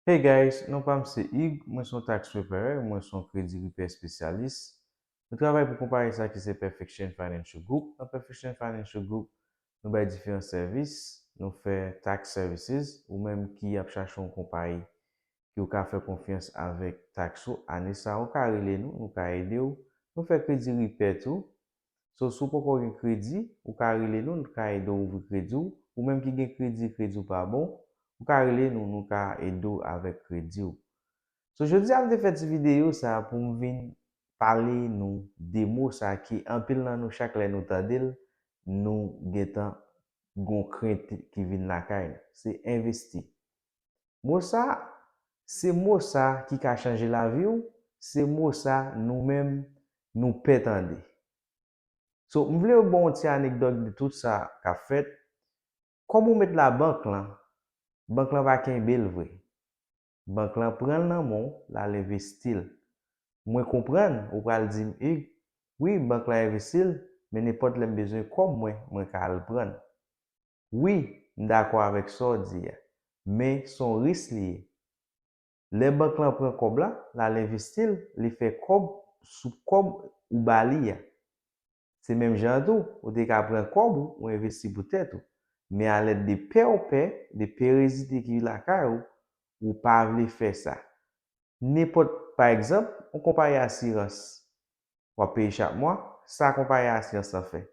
Hey guys, non pam se Hugues, mwen son tax preparer, mwen son kredi repair spesyalis. Nou travay pou konpayi sa ki se Perfection Financial Group, nan Perfection Financial Group nou bay diferan sèvis, nou fè tax services, ou menm ki ap chache yon konpayi ki ou ka fè konfyans avèk tax ou ane sa ou ka rele nou, nou ka edew, nou fè kredi repair tou, So si w poko gen kredi, ou ka rele nou n ka ede w ouvri kredi w, ou menm ki gen kredi, kredi w pa bon, ou ka rele nou nou ka ede w avèk kredi w. So jodi a m te fè ti videyo sa pou m vin pale nou de mo sa ki anpil nan nou chak lè nou tande l nou gentan gon krent ki vin lakay nou, se envesti. Mo sa, se mo sa ki ka chanje lavi w, se mo sa nou menm nou pè tande. So, m vle ba w yon ti anekdòt de tout sa k ap fèt, kòb ou met labank lan, bank lan pa kenbe l vre. Bank lan pran l nan men w, l al envesti l. Mwen konprann, ou pral di m, Hugues, wi bank lan envesti l, men nenpòt lè m bezwen kòb mwen, mwen ka al pran l. Wi, m dakò avèk sa w di a. Men, s on ris li ye. Lè bank lan pran kòb la, l al envesti l, li fè kòb sou kòb ou ba li a. Se menm jan an tou, ou te ka pran kòb ou, ou envesti pou tèt ou. Men alèd de pè w pè, de perezite ki lakay ou, ou pa vle fè sa. Nenpòt, pa egzanp, on konpayi asirans. w ap peye chak mwa, sa konpayi asirans lan fè?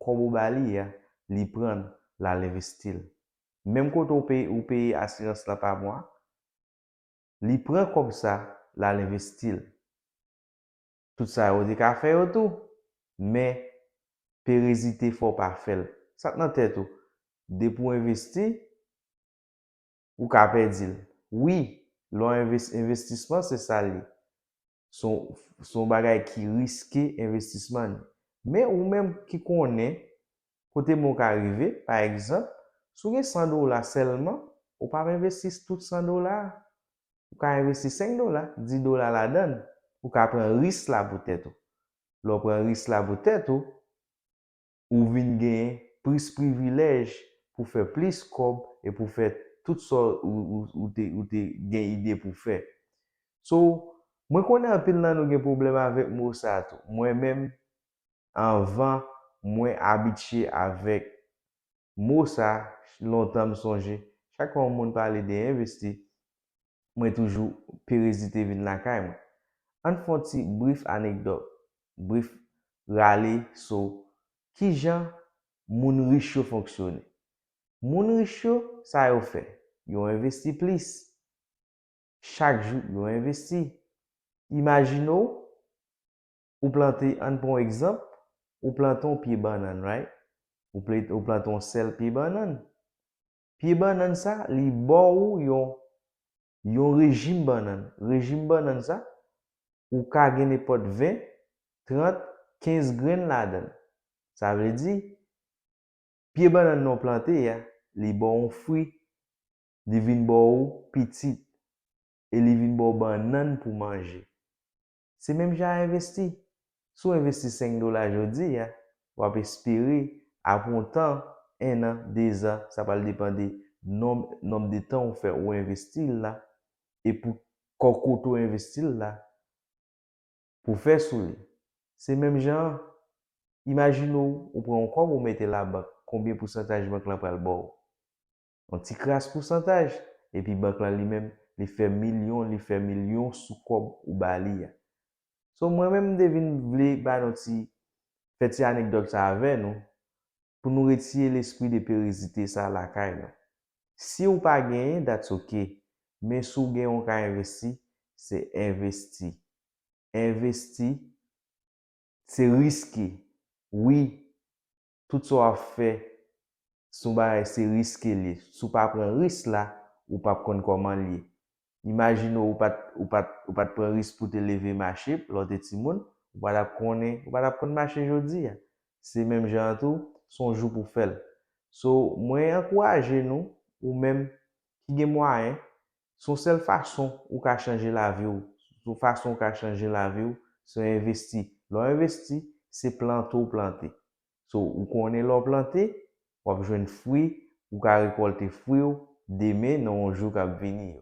Kòb ou ba li a, li pran l, l al envesti l. Menm kote w peye ou peye asirans lan pa mwa, li pran kòb sa, l al envesti l. Tout sa yo te ka fè yo tou, men perezite fè w pa fè l. Sa k nan tèt ou, depi w envesti, Ou ka pèdi l. Wi, lè w envesti, envestisman se sa l ye. Se yon, se yon bagay ki riske envestisman li. Men ou menm ki konnen kote men w ka rive, pa egzanp, si w gen 100 dola sèlman, ou pa p envesti tout 100 dola a. Ou ka envesti 5 dola, 10 dola ladan l. Ou ka pran risk la pou tèt ou. Lè w pran risk la pou tèt ou, ou vin gen plis privilèj pou fè plis kòb e pou fè tout sa ou te gen ide pou fè. So, mwen konnen anpil nan nou gen pwoblèm avèk mo sa a tou. Mwen menm, anvan mwen abitye avèk mo sa, lontan m sonje, chak fwa yon moun pale de envesti, mwen toujou perezite vin lakay mwen. Ann fè yon ti brif anekdòt. bref rale so kijan moun rich yo fonksyone. Moun rich yo sa yo fè, yo envesti plis, chak jou yo envesti. Imajine w ou plante ann pran w egzanp ou plante yon pye bannann right, ou plante yon sèl pye bannann, pye bannann sa li ba w yon yon rejim bannann. Rejim bannann sa, ou ka gen nenpòt 20, 30, 15 grenn ladan l. Sa vle di, pye bannann nan w plante a, li ba w yon fwi, li vin ba w pitit e li vin ba w bannann pou w manje. Se menm jan a envesti. Si w envesti 5 dola jodi a, w ap espere apre yon tan, ennan, dezan, sa pral depan de nonb nonb de tan ou fè ou envesti l la e pou kò kote w envesti l la pou fè sou li. Se menm jan an, imajine w ou pran yon kòb ou mete labank, konbyen pousantaj bank lan pral ba w? yon ti kras pousantaj, epi bank lan li menm li fè milyon li fè milyon sou kòb ou ba li a. So mwen menm m te vin vle ba nou ti fè ti anekdòt sa avè nou pou nou retiye lespri de perezite sa lakay nou. Si ou pa genyen that's ok, men si w genyen w ka envesti, se envesti. Envesti se riske wi Tout sa wap fè si yon bagay se riske liye. Si w pa pran risk la, ou pap konn kòman liye. Imajine w ou pat ou pat ou pat pran risk pou w te leve mache lè w te timoun, ou pa tap konnen ou pa tap konn mache jodi a. Se menm jan an tou, se yon jou pou w fè l. So, mwen ankouraje nou, ou menm ki gen mwayen, Se yon sèl fason ou ka chanje lavi w. Yon fason ou ka chanje lavi w, se w envesti. Lè w envesti, se plante w plante. So, ou konnen lè w plante, w ap jwenn fwi, ou ka rekòlte fwi w demen nan yon jou k ap vini yo.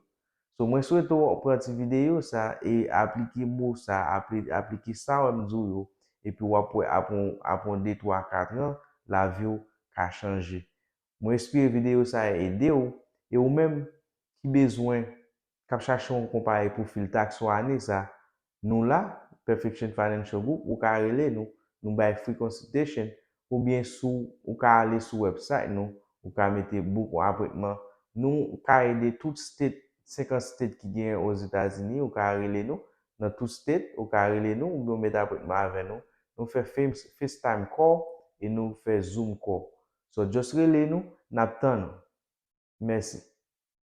So, mwen swete w pran ti videyo sa e aplike mo sa, aplike sa w wè m di w yo, epi w ap wè apre yon de twa ka tran, lavi w ka chanje. Mwen espere videyo sa a ede w e ou menm ki bezwen kap chache yon konpayi pou fil taks ou ane sa nou la Perfection Financial Group ou ka rele nou nou bay free consultation oubyen sou ou ka ale sou website nou ou ka mete book yon apwentman nou ka ede tout state 50 state ki genyen ozetazini ou ka rele nou nan tout state ou ka rele nou oubyen ou met apwentman avè nou nou fè FaceTime call e nou fè Zoom call So just rele nou nap tann ou. Mèsi.